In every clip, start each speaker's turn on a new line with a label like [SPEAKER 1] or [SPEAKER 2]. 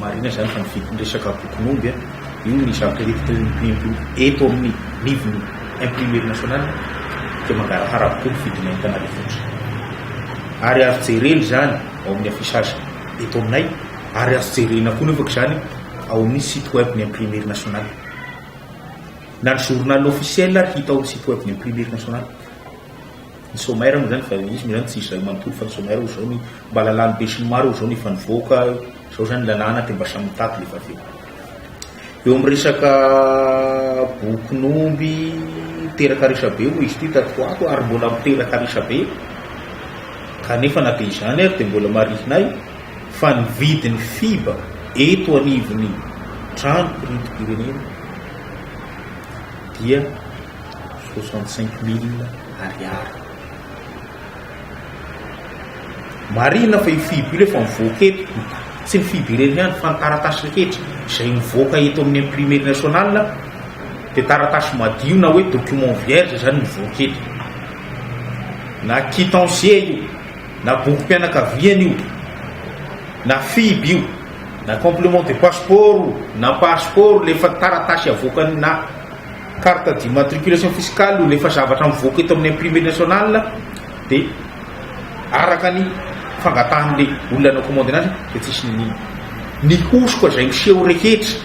[SPEAKER 1] Marina izany fa ny vidin'ny resaka bokin'omby a, io ny zavatra hevitra eo imprimp eto amin'ny livre imprimerie nationale dia mangarahara avokoa ny vidina entana revotry ary azo jerena izany ao amin'ny affichage eto aminay ary azo jerena koa nefako izany ao amin'ny site web ny imprimerie nationale na ny journal officiel ary hita ao amin'ny site web ny imprimerie nationale Ny sommaire moa zany efa izy moa zany tsy izay manontolo fa ny sommaire hoe izao ny mba lalàn'ny besinimaro izao no efa nivoaka, izao zany ny lalàna dia mba samy mitady le vavy eo. Eo amin'ny resaka bokin'omby teraka resabe moa izy ity tato ho ato ary mbola miteraka resabe kanefa na dia izany ary dia mbola marihinay fa ny vidin'ny fiba eto anivon'ny trano piridi-pirenena dia soixante cinq mille ariary. Marihina fa io FIB io efa mivoaka eto, tsy ny FIB ireny ihany fa ny taratasy rehetra izay mivoaka eto amin'ny imprimerie nationale dia taratasy madio na hoe document vierge izany mivoaka eto. Na quittance io, na bokim-pianakaviana io, na FIB io, na complément de passeport, na passeport, ilay efa taratasy avoakany na Carte d'immatriculation fiscale hono efa zavatra mivoaka eto amin'ny imprimerie nationale dia araka ny fangatahan'ilay olona nanao commande anazy dia tsisy niniana. Ny hosoka izay miseho rehetra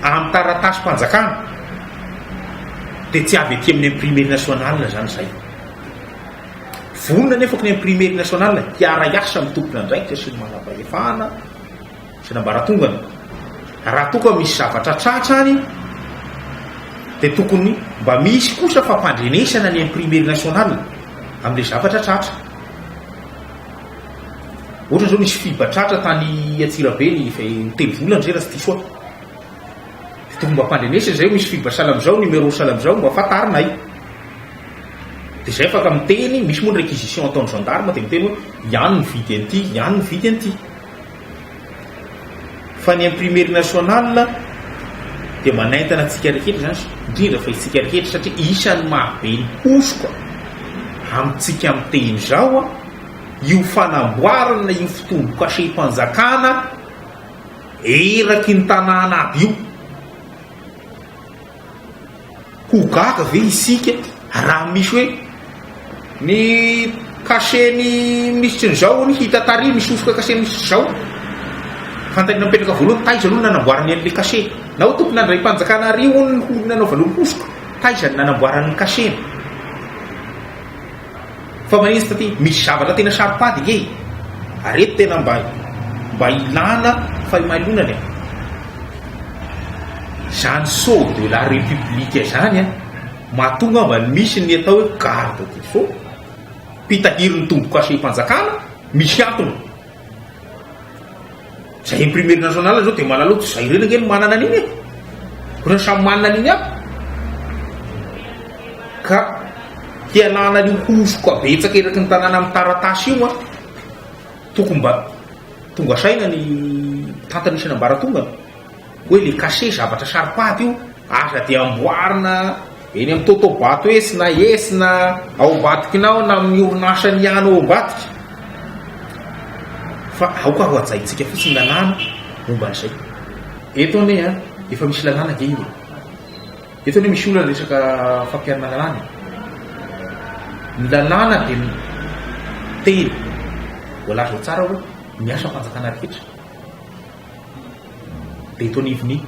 [SPEAKER 1] amin'ny taratasim-panjakana dia tsy avy aty amin'ny imprimerie nationale izany izay. Vonona anefa ny imprimerie nationale hiara-hiasa amin'ny tompon'andraikitra sy ny manam-pahefana, Tsenambaratongany, raha toa ka misy zavatra tratra ary dia tokony mba misy kosa fampandrenesana ny imprimerie nationale amin'ilay zavatra tratra. Ohatra izao nisy fiba tratra tany Antsirabe ny telo volana izay raha tsy diso aho. Dia tokony mba ampandrenesana izay misy fiba salamizao, numéro salamizao mba fantarinay. Dia izay afaka miteny, misy moa ny réquisition ataon'ny gendarme dia miteny hoe ihany ny vidy an'ity, ihany ny vidy an'ity. Fa ny imprimerie nationale dia manaintana antsika rehetra izany, indrindra fa isika rehetra satria isan'ny mahabe ny hosoka amintsika miteny izao io fanamboarana io fotombokasem-panjakana eraky ny tanàna aby io. ho gaga ve isika raha misy hoe ny cachet ny minisitry ny zao ny hita tary misosoka cachet minisitry zao fantany napetraka voalohany taiza aloha nanamboarany an'le cachet na ho tokony andray panjakana ary ho nanaovany ho hosoka taiza ny nanamboarany ny cachet Fa maninona taty misy zavatra tena saro-pady nge e! Areto tena mba mba ilana fahimalonana e! Zany sceau de la republique zany an! Matoa ngamba misy ny atao hoe garde du sceau, mpitahiry ny tombo-kasem-panjakana, misy antony. Izay imprimerie nationale zao dia malalao tsy izay ireny ange no manana an'iny e. Ireo samy manana an'iny aby. Ka hialana an'io hosoka betsaka eraky ny tanàna amin'ny taratasy io an. Tokony mba tonga saina ny tantan'ny isan'ambaratongany. hoe le cachet zavatra saro-paty io aza dia amboarina eny amin'ny Totobato etsy na etsy na ao Ambatokinao na amin'ny orinasany ihany ao Ambatoky fa aoka ho hajaintsika fotsiny ny lalàna momba an'izay. Eto anie an, efa misy lalàna ange io e. Eto anie misy olona resaka fampiharana lalàna e. Ny lalàna dia miteny, voalaza ao tsara hoe ny asa fanjakana rehetra. Betonivenis,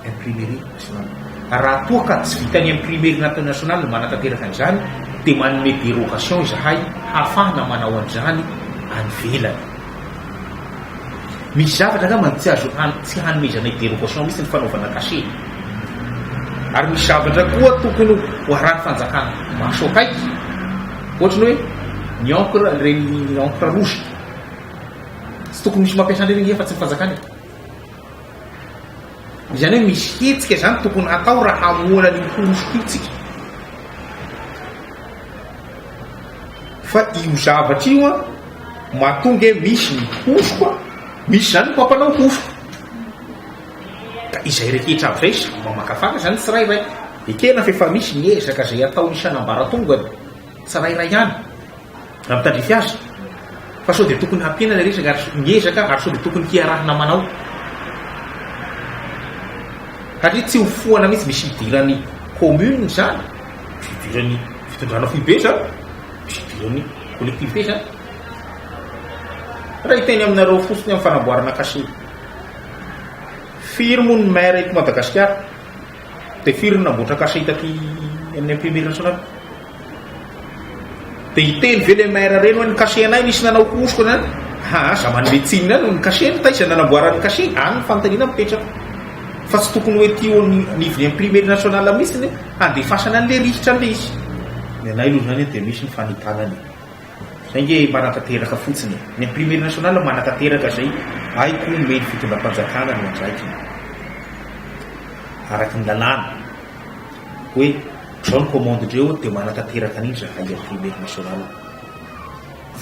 [SPEAKER 1] Imprimerie Nationale. Raha toa ka tsy vitan'ny Imprimerie Nationale ny manatanteraka an'izany dia manome dérogation izahay hahafahana manao an'izany any ivelany. Misy zavatra angamba tsy azo tsy hanomezanay dérogation mihitsy ny fanaovana cachet. Ary misy zavatra koa tokony ho arahin'ny fanjakana maso akaiky, ohatry ny hoe ny encre, ireny encre rouge. Tsy tokony misy mampiasa an'ireny nge fa tsy ny fanjakana e. Izany hoe misy hetsika izany tokony hatao raha hamoana an'io porofoko io tsika. Fa io zavatra io an, matoa nge misy ny hosoko an, misy izany ny mpampanao hosoko. Ka izay rehetra avy izay samy mamakafaka izany ny tsirairay. Ekena fa efa misy ny ezaka izay atao isan'ambaratongany. tsirairay ihany raha mitandrify azy fa sao dia tokony hampiana ilay resaka ary miezaka ary sao dia tokony hiarahana manao satria tsy hofohana mihitsy misy hidirany commune zany misy hidirany fitondrana foibe zany misy hidirany collectivité zany raha hiteny aminareo fotsiny amin'ny fanamboarana kasiro firy moa ny maire eto madagasikara Dia firy no namboatra cachet taty amin'ny imprimerie nationale? Dia hiteny ve le maire ireny hoe ny cachet anay nisy nanao hosoka na ha aza manome tsiny any ny cachet no taiza nanamboaran'ny cachet any ny fanontaniana mipetraka fa tsy tokony hoe ety eo amin'ny anivon'ny imprimerie nationale mihitsy ny handefasana an'ilay rihitra an'ilay izy. Ny anay aloha izany dia misy ny fanentanana e. Zay nge manatanteraka fotsiny e! Ny imprimerie nationale manatanteraka zay hay koa omeny fitondram-panjakana ny andraikiny araky ny lalàna hoe dreo ny commande dreo de manatanteraka an'iny zahay imprimerie nationale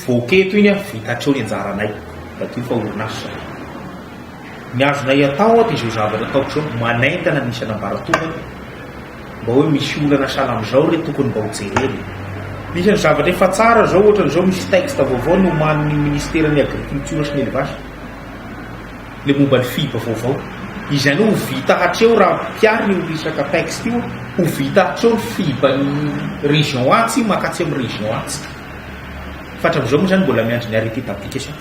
[SPEAKER 1] voaky eto iny an vita hatreo ny anjaranay madio fa orinasa zahay Ny azonay atao aho dia izao zavatra ataoko izao, manaintana ny isan'ambaratongany mba hoe misy olana sahala amin'izao re tokony mba ho jerena. Misy ny zavatra efa tsara izao ohatra izao misy texte vaovao nomanin'ny Ministeran'ny Agriculture sy ny Elevage ilay momba ny fib vaovao. Izany hoe ho vita hatreo raha ampiharina io resaka texte io, ho vita hatreo ny fib an'ny région A tsy makatsy amin'ny région A tsika. Fa hatramin'izao moa izany mbola miandry ny arrêté d'application.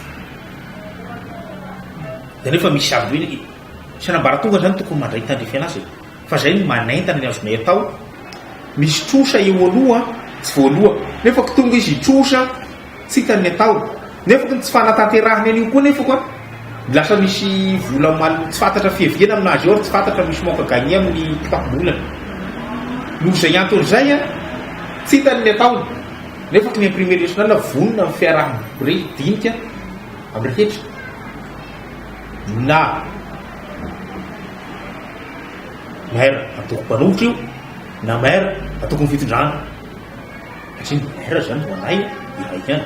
[SPEAKER 1] Dia nefa misy avy eo ny fianambaratonga izany tokony mandray tandrify an'azy e. Fa izay no manentana ny azonay atao. Misy trosa eo aloha tsy voaloha. Nefa ko tonga izy hitrosa tsy hitany ny ataony. Nefa ko ny tsy fanatanterahany an'io koa nefa ko an. Lasa misy vola mal tsy fantatra fiaviana amin'azy eo ary tsy fantatra misy manque gagner amin'ny kitapom-bolany. Noho izay antony izay an, tsy hitany ny ataony. Nefa ny Imprimerie Nationale vonona amin'ny fiaraha-mirehy dinika amin'ny hetra na Maire antoko mpanohitra io na Maire antokon'ny fitondrana satria ny Maire izany vao nahy iray ihany.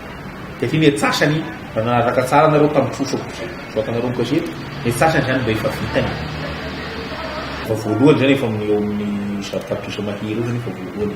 [SPEAKER 1] Dia efa imetsasany raha nanaraka tsara anareo tamin'ny trosa voatanareo ny gazety, imetsasany izany mba efa vitany. Efa voalohany izany efa amin'ny eo amin'ny zato tapitrisa mahery eo izany efa voalohany.